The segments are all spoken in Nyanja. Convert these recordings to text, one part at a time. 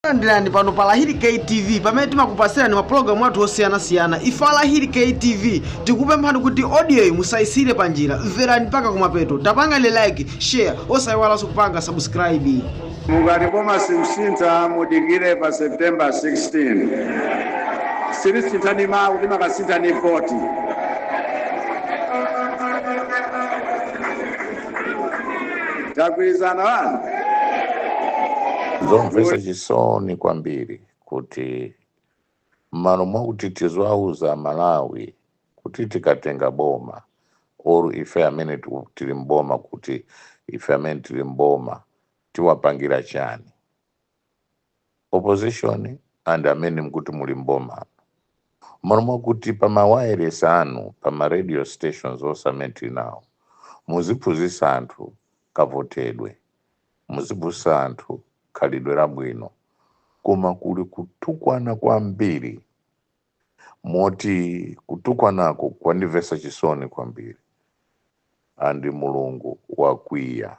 landirani pano pa lahiri ktv pamene timakupasirani mapulogalamu athu osiyanasiyana ife a lahiri ktv tikupemphani kuti odiyoyi musayisire pa njira mverani mpaka kumapeto tapangani like share osayiwalanso kupanga subscribe mukati boma sikusintha mudikire pa september 16 silisinthani mawu timakasintha ndi voti tagwirizana wanu zomvesa chisoni kwambiri kuti mmalo mwakuti tiziwauza aMalawi kuti tikatenga boma or ife amene tiku- tili mboma kuti ife amene tili mboma tiwapangira chani opposition and amene mukuti muli mboma mmalo mwakuti pa mawayilesi anu pa ma radio stations onse amene tili nawo muziphunzitsa anthu kavotedwe muziphunzitsa anthu khalidwe labwino koma kuli kutukwana kwambiri moti kutukwanako kwandimvesa chisoni kwambiri and mulungu wakwiya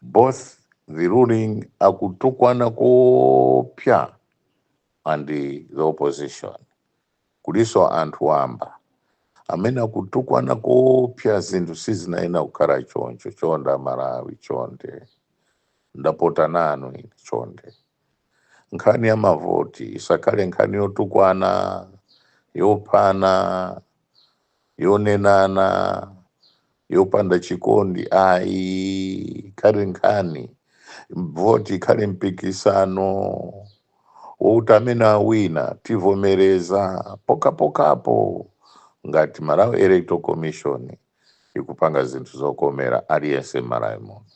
both the ruling akutukwana koopsya and the opposition kuliso anthu wamba amene akutukwana koopsya zinthu sizinayenera kukhala choncho chonde amalawi chonde ndapota nanu ine chonde nkhani ya mavoti isakhale nkhani yotukwana yophana yonenana yopanda chikondi ayi ikhale nkhani voti ikhale mpikisano woti amene awina tivomereza pokhapokhapo ngati malawi electoral commission ikupanga zinthu zokomera aliyense m'malawi muno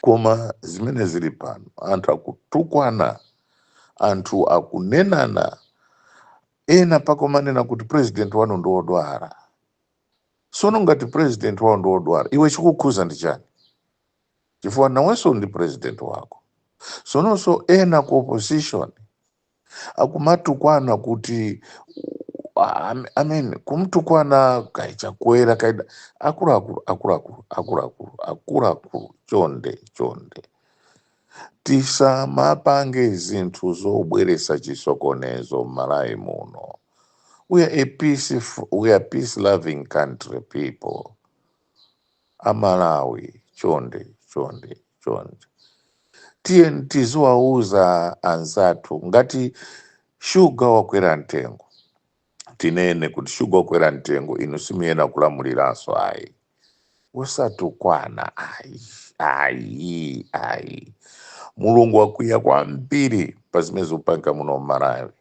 Koma zimene zili pano, anthu akutukwana, anthu akunenana, ena mpaka kumanena kuti president wanu ndi wodwala. Sono ngati president wao ndi wodwala, iwe chikukukhuza ndi chani? Chifukwa nawenso ndi president wako. Sononso ena ku opposition akumatukwana kuti I I mean kumtukwana kai chakwera kai akuluakulu akuluakulu akuluakulu akuluakulu chonde chonde tisamapange zinthu zobweresa chisokonezo m'malawi muno we are a peaceful, we are peace loving country people Amalawi chonde chonde chonde tiyeni tiziwauza anzathu ngati shuga wakwera mtengo tinene kuti shuga wakwera mtengo inu simuyenera kulamuliranso ayi osatukwana ayi ayi ayi mulungu wakwiya kwambiri pa zimene zikupangika muno mmalawi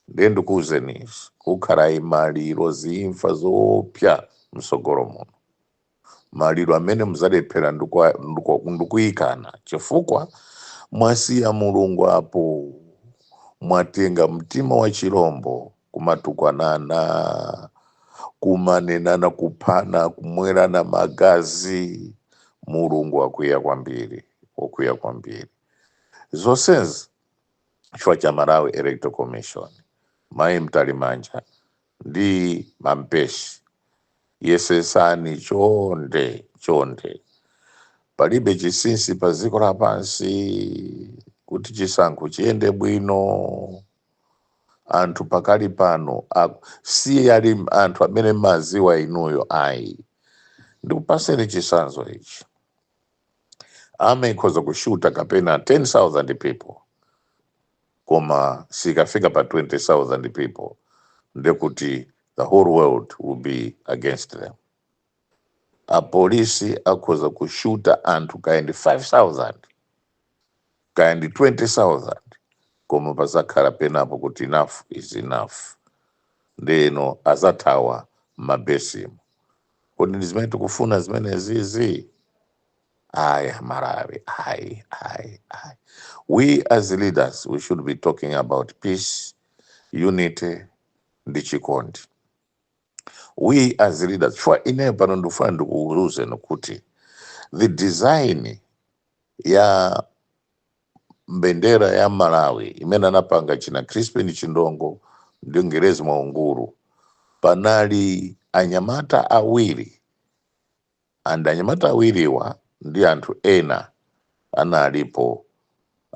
Ndiye ndikuuzeni izi, kukhala maliro ziimfa zoopsa mtsogolo muno. Maliro amene muzalephera ndikwa- ndiko- ndikuikana chifukwa mwasiya Mulungu apo mwatenga mtima wa chilombo kumatukwanana kumanenana kuphana kumwerana magazi mulungu wakwiya kwambiri wakwiya kwambiri zonsezi chifukwa cha Malawi Electoral Commission, Mayi Mtalimanja ndi a Mpesi. Yesesani chonde chonde. Palibe chisinsi pa dziko lapansi kuti chisankho chiyende bwino. Anthu pakali pano aku- si ali anthu amene mumawaziwa inuyo ayi. Ndikupaseni chisanzo ichi. army ikhoza kushuta kapena 10000 people koma sikafika pa 20000 people ndekuti the whole world will be against them apolisi akhoza kushuta anthu kaya ndi 5000 kaya ndi 20000 koma pazakhala penapo kuti enough is enough ndeno azathawa mmabesimu kodi ndi zimene tikufuna zimenezizi ayi amalawi ayi ayi ayi we as leaders we should be talking about peace unity ndi chikondi we as leaders chifukwa ine pano ndikufuna ndikuuzeni kuti the design ya mbendera ya malawi imene anapanga achina crispin chindongo ndi ngerezi mwaungulu panali anyamata awiri and anyamata awiriwa ndi anthu ena analipo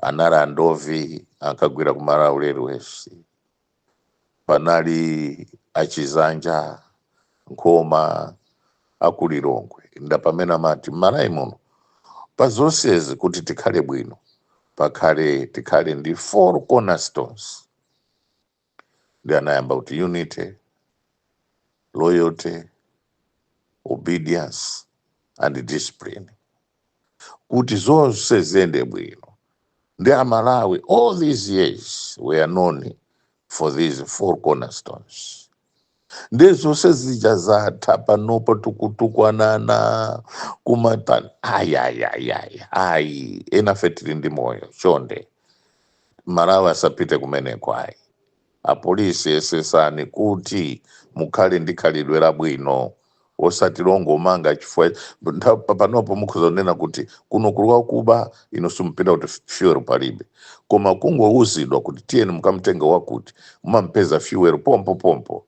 anali a ndovi ankagwira ku malawi railways panali achizanja nkhoma akulilongwe ndi amene amati mmalawi muno pa zonsezi kuti tikhale bwino pakhale tikhale ndi four cornerstones ndi anayamba kuti unity loyalty obedience and discipline kuti zonse ziyende bwino ndi amalawi all these years we are known for these four cornerstones nde zonse zija zatha panopo tikutukwanana kumatani ayi ayi ayi ayi ayi enafe tili ndi moyo chonde Malawi asapite kumeneko ayi apolisi yesesani kuti mukhale ndi khalidwe labwino wosati longomanga chifukwa ntha- pa- panopo mukhoza kunena kuti kuno kuli wakuba inu simpita kuti fuel palibe koma kungouzidwa kuti tiyeni mukamtenge wakuti mumampeza fuel pompo pompo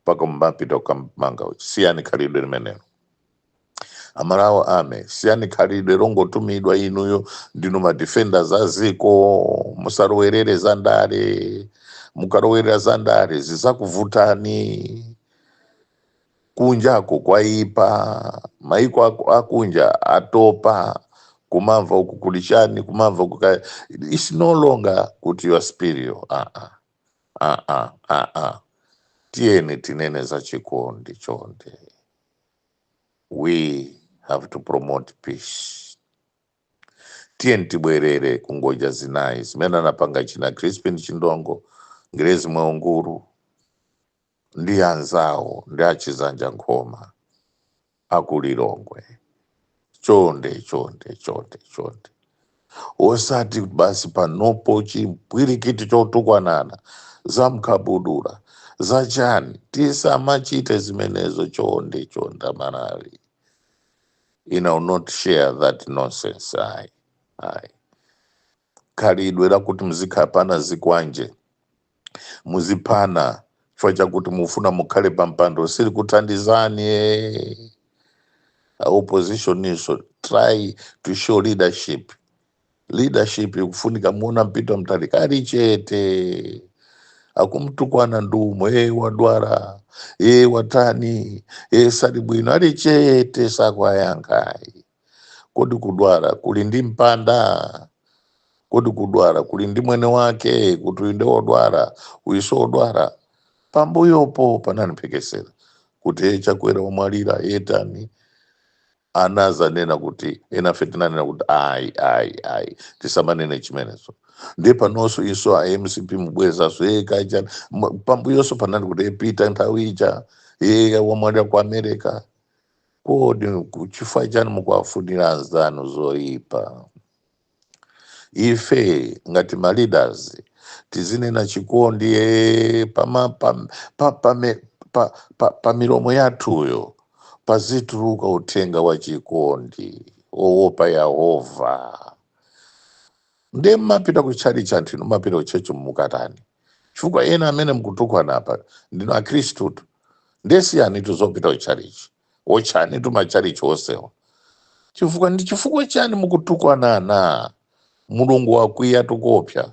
mpaka mumapita kukamanga siyani khalidwe limenelo amalawi amene siyani khalidwe longotumidwa inuyo ndinu madefenders a ziko musalowelere za ndale mukalowerera za ndale zizakuvutani Kunjako kwaipa, maiko akunja atopa, kumamva uku kuli chani, kumamva uku ka, it's no longer kuti you are superior, aa, aa, aa, tiyeni tinene za chikondi chonde, we have to promote peace. Tiyeni tibwerere ku ngodya zinayi zimene anapanga china Crispin Chindongo, Ngrezi Mwaunguru, ndi anzawo ndi achizanja nkhoma aku Lilongwe chonde chonde chonde chonde osati basi panopo chimpwirikiti chotukwanana za mkabudula za chani tisamachite zimenezo chonde chonde amalawi I will not share that nonsense ayi ayi khalidwe lakuti muzikhapana zikwanje, muziphana chifukwa chakuti mufuna mukhale pa mpando silikuthandizani eh. A opposition inso try to show leadership leadership ikufunika muona Peter Mutharika ali chete akumtukwana ndi umo e wadwala e watani e sali bwino ali chete sakwayankhayi Kodi kudwala kuli ndi mpanda? Kodi kudwala kuli ndi mwene wake kuti uyu ndi wodwala uyuso wodwala? Pambuyopo panali mphekesera kuti he Chakwera wamwalira e atani anazanena kuti enafe tinanena kuti ayi ayi ayi tisamanene zimenezo ndiye panonso inso a mcp mubwezaso e kaya chani pambuyonso panali kuti e peter nthawi ija e wamwalira ku america Kodi nku- chifukwa chani mukuwafunira anzanu zoipa? Ife ngati ma leaders tizinena chikondi eh, pama, pa, pa, pame- pa, pa, pa milomo yathuyo pazituluka uthenga wa chikondi owopa Yehova. Ndiye mmapita ku tchalitchi anthu inu mmapita ku church kukatani? chifukwa ena amene mkutukwana apa ndinu akhristutu nde siyanitu zopita kuchalichi otchanitu machalichi onsewa chifukwa ndi chifukwa chani mukutukwana ana mulungu wakwiya tikuopa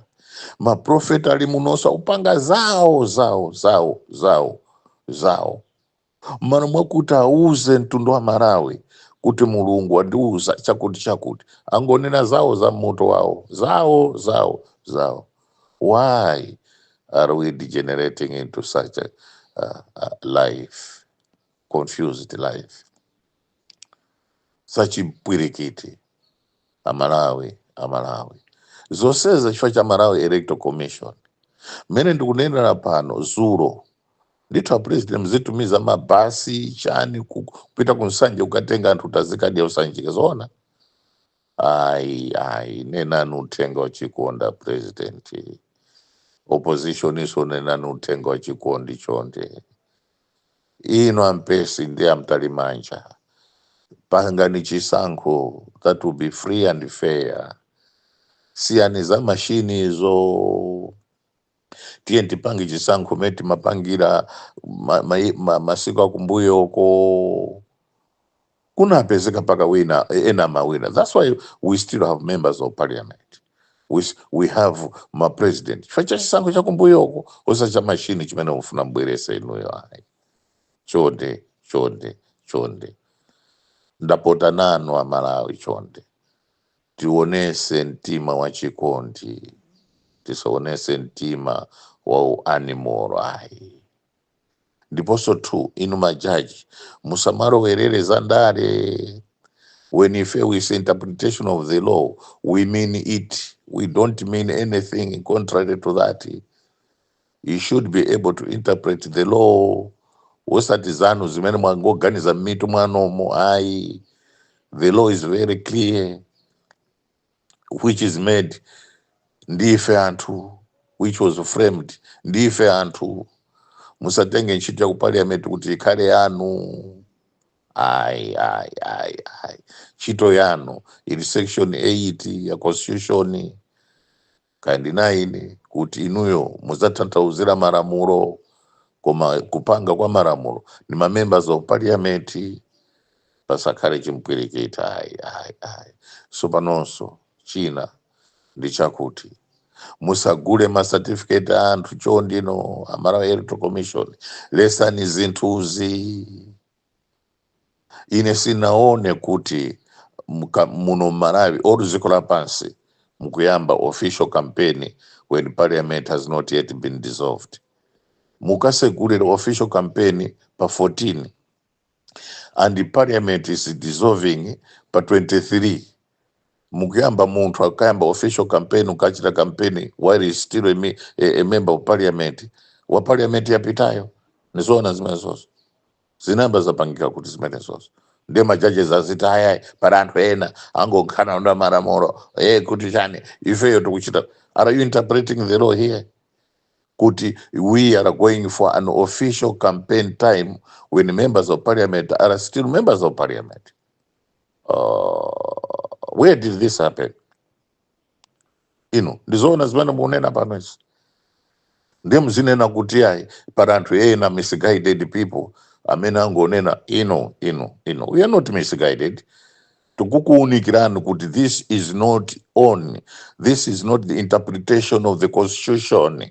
maprofeti ali munoso akupanga zawo zawo zawo zawo zawo Mmalo mwakuti auze mtundu wa Malawi kuti Mulungu wandiuza chakuti chakuti, angonena zawo za mmutu mwawo, zawo, zawo, zawo. Why are we degenerating into such a, a, a life, confused life? zachimpwirikiti amalawi amalawi zonsezi chifukwa cha malawi electoral commission mmene ndikunenera pano dzulo ndithu apresident nkuzitumiza mabasi chani ku- kupita ku nsanje kukatenga anthu adzikadya ku Sanjika zoona ayi ayi nenani uthenga wachikondi apresident opposition inunso nenani uthenga wachikondi chonde inu a Mpesi ndi a Mtalimanja pangani chisankho that will be free and fair siyani za mashini izo tiyeni tipange chisankho mene timapangira ma, ma, ma, masiku akumbuyoko kunapezeka mpaka wina ena amawina that's why we still have members of parliament we, s- we have ma president chifukwa cha chisankho cha kumbuyoko osati cha mashini chimene mukufuna mubwerese inuyo ayi chonde chonde chonde ndapota nanu amalawi chonde tionese mtima wa chikondi tisaonese mtima wa uanimoro ayi ndiponso 2 inu majaji musamalowerere za ndale when we say interpretation of the law we mean it we don't mean anything contrary to that you should be able to interpret the law osati zanu zimene mwangoganiza m'mitu mwanomo ayi the law is very clear which is made ndi ife anthu which was framed ndi ife anthu musatenge ntchito ya ku parliament kuti ikhale yanu ayi ayi ayi ayi ntchito yanu ili section 8 ya constitution Kaya ndi 9 kuti inuyo muzathanthauzira malamulo koma kupanga kwa malamulo ndi ma members of parliament pasakhale chimpwirikiti ayi ayi ayi so panonso china ndi chakuti musagule ma certificate a anthu chonde inu a Malawi electoral commission letsani zinthuzi ine sindinaone kuti mka- muno mmalawi or dziko lapansi mukuyamba official campaign when parliament has not yet been dissolved mukasegulira official campaign pa 14 and the parliament is dissolving pa 23 mukuyamba munthu akayambe official campaign akachite campaign while he is still a, me- a, a member of parliament wa parliament yapitayo nizoona zimenezozo zinayamba zapangika kuti zimenezozo ndiye majajes aziti ayayi pali anthu ena angonkhana ndi malamulo e kuti chani ifeyo tikuchita are you interpreting the law here kuti we are going for an official campaign time when members of parliament are still members of parliament uh, where did this happen inu ndizoona zimene mukunena pano izi ndiye muzinena kuti ayi pali anthu ena misguided people amene angonena no no no we are not misguided tikukuunikirani kuti this is not on this is not the interpretation of the constitution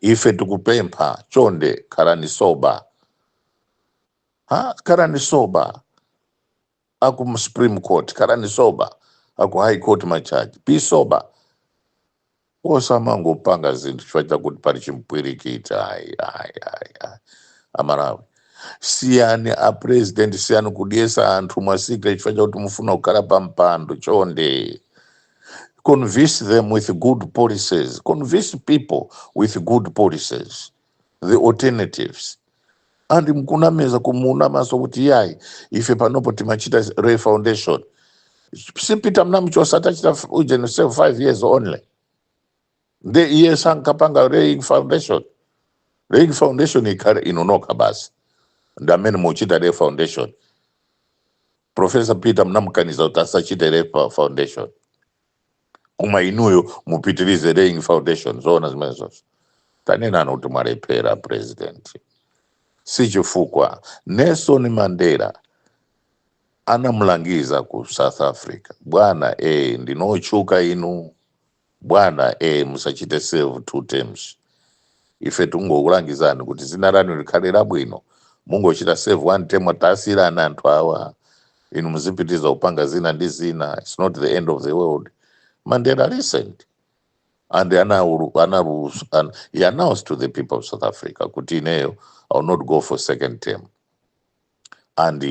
ife tikupempha chonde khalani sober ha khalani sober aku supreme court khalani sober aku high court majaji be sober osamangopanga zinthu chifukwa chakuti pali chimpwirikiti ayi ayi ayi ayi aMalawi siyani a president siyani kudyetsa anthu masikono chifukwa chakuti mufuna kukhala pa mpando chonde convince them with good policies convince people with good policies the alternatives and not kunamiza kumunamaso kuti yayi ife panopo timachita lay foundation si Peter mnamchosa atachita ujeni serve five years only nde iye sankapanga laying foundation laying foundation ikhale inu nokha basi ndi amene muchita lay foundation profesa peter mnamkaniza kuti asachite lay fo- foundation koma inuyo mupitirize laying foundation zoona zimenezozo tanenani kuti mwalephera president si chifukwa nelson mandela anamulangiza ku south africa bwana eh ndinu otchuka inu Bwana ee musachite serve two terms. Ife tikungokulangizani kuti dzina lanu likhale labwino. Mungochita serve one term tasiyirani anthu awa. Inu muzipitiriza kupanga zina ndi zina. It's not the end of the world. Mandela listened and anaulu- analu- an- he announced to the people of South Africa kuti ineyo I will not go for second term. and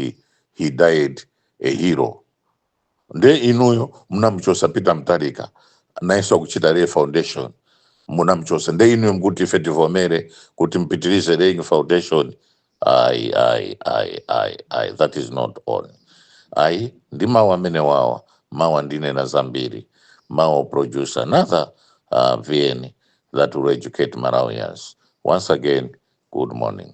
he died a hero nde inuyo mnamuchosa peter mutharika nayenso akuchita lay foundation munamuchosa nde inuyo mkuti ife tivomere kuti mpitirize laying foundation ayi ayi ayi ayi ayi that is not on ayi ndi mawu amenewa mawa ndinena zambiri mawa i'll produce another uh, vn that will educate malawians once again good morning